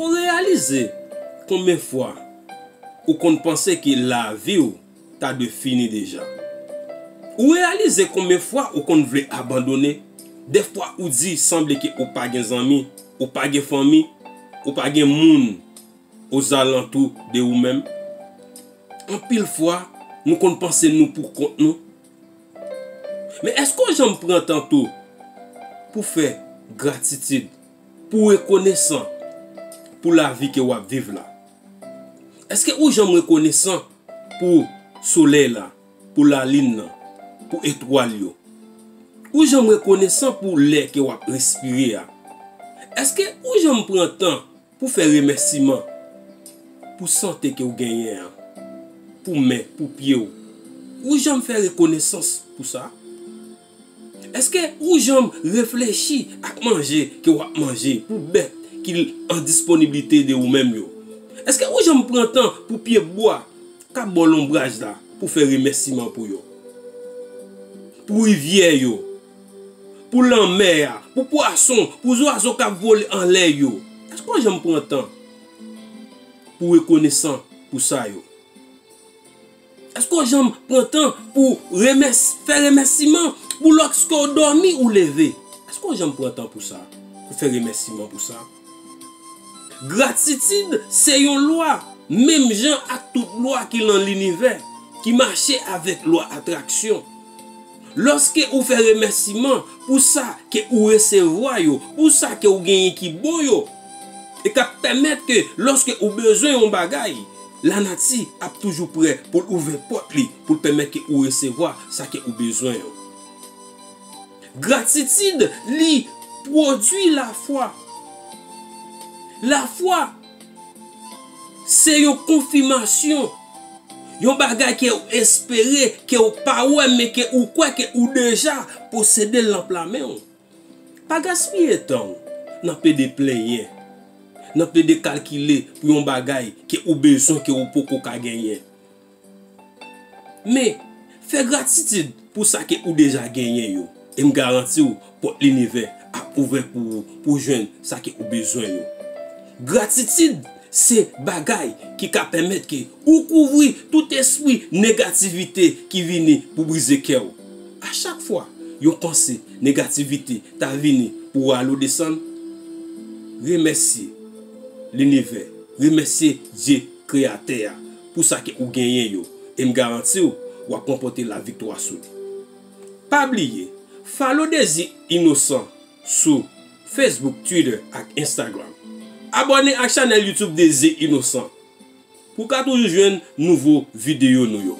Ou reyalize konbyen fwa ou konn panse ke lavi w ta dwe fini deja? Ou reyalize konbyen fwa ou konn vle abandone? Dèfwa ou di sanble ke ou pa gen zanmi, ou pa gen fanmi, ou pa gen moun ozalantou de ou menm? Anpil fwa nou konn panse nou pou kont nou. Men èske w janm pran tan tou pou fè gratitid? Pou w rekonesan pou lavi ke w ap viv la? Eske ou janm rekonesan pou solèy la, pou lalin nan, pou etwal yo? Ou janm rekonesan pou lè ke w ap respire a? Eske ou janm pran tan pou fè remèsiman pou sante ke w genyen an, pou men, pou pye w? Ou janm fè rekonesans pou sa? Èske ou janm reflechi ak manje ke w ap manje pou bèt ki an disponiblite de ou menm yo? Èske ou janm pran tan pou pye bwa k ap ba w lonbraj la pou fè remèsiman pou yo? Pou rivyè yo, pou lanmè a, pou pwason, pou zwazo k ap vole anlè yo, èske w janm pran tan pou rekonesan pou sa yo? Eske w janm pran tan pou fè remèsiman pou lòske w dòmi ou leve? Eske w janm pran tan pou sa? Pou fè remèsiman pou sa? Gratitid se yon lwa, menm jan ak tout lwa ki lan linivè, ki mache avèk lwa atraksyon. Lòske ou fè remèsiman pou sa ke ou resevwa yo, pou sa ke ou genyen ki bon yo, e kap pèmèt ke lòske ou bezwen yon bagay, lanati ap toujou prè pou l ouvè pòt li pou l pèmèt ke ou resevwa sa ke ou bezwen yo. Gratitid li pwodwi lafwa. Lafwa. Se yon konfimasyon, yon bagay ke ou espere, ke ou pa wè men ke ou kwè ke ou deja posede l nan pla men ou. Pa gaspiye tan ou nan pede plenyen, nan pede kalkile pou yon bagay ke ou bezwen ke ou poko ka genyen. Men, fè gratitid pou sa ke ou deja genyen yo, e m garanti w pòt linivè ap ouvè pou ou pou w jwenn sa ke ou bezwen yo. Gratitid se bagay ki ka pèmèt ke ou kouvri tout espri negativite ki vini pou brize kè w. A chak fwa yon panse negativite ta vini pou rale w desann, remèsye linivè, remèsye Dye Kreyatè a, pou sa ke ou genyen yo, e m garanti w wap ranpòte la viktwa sou li. Pa bliye follow Dezi Inosan sou Facebook, Twitter ak Instagram. Abòne ak chanèl YouTube Dezi Inosan pou w ka toujou jwenn nouvo videyo nou yo.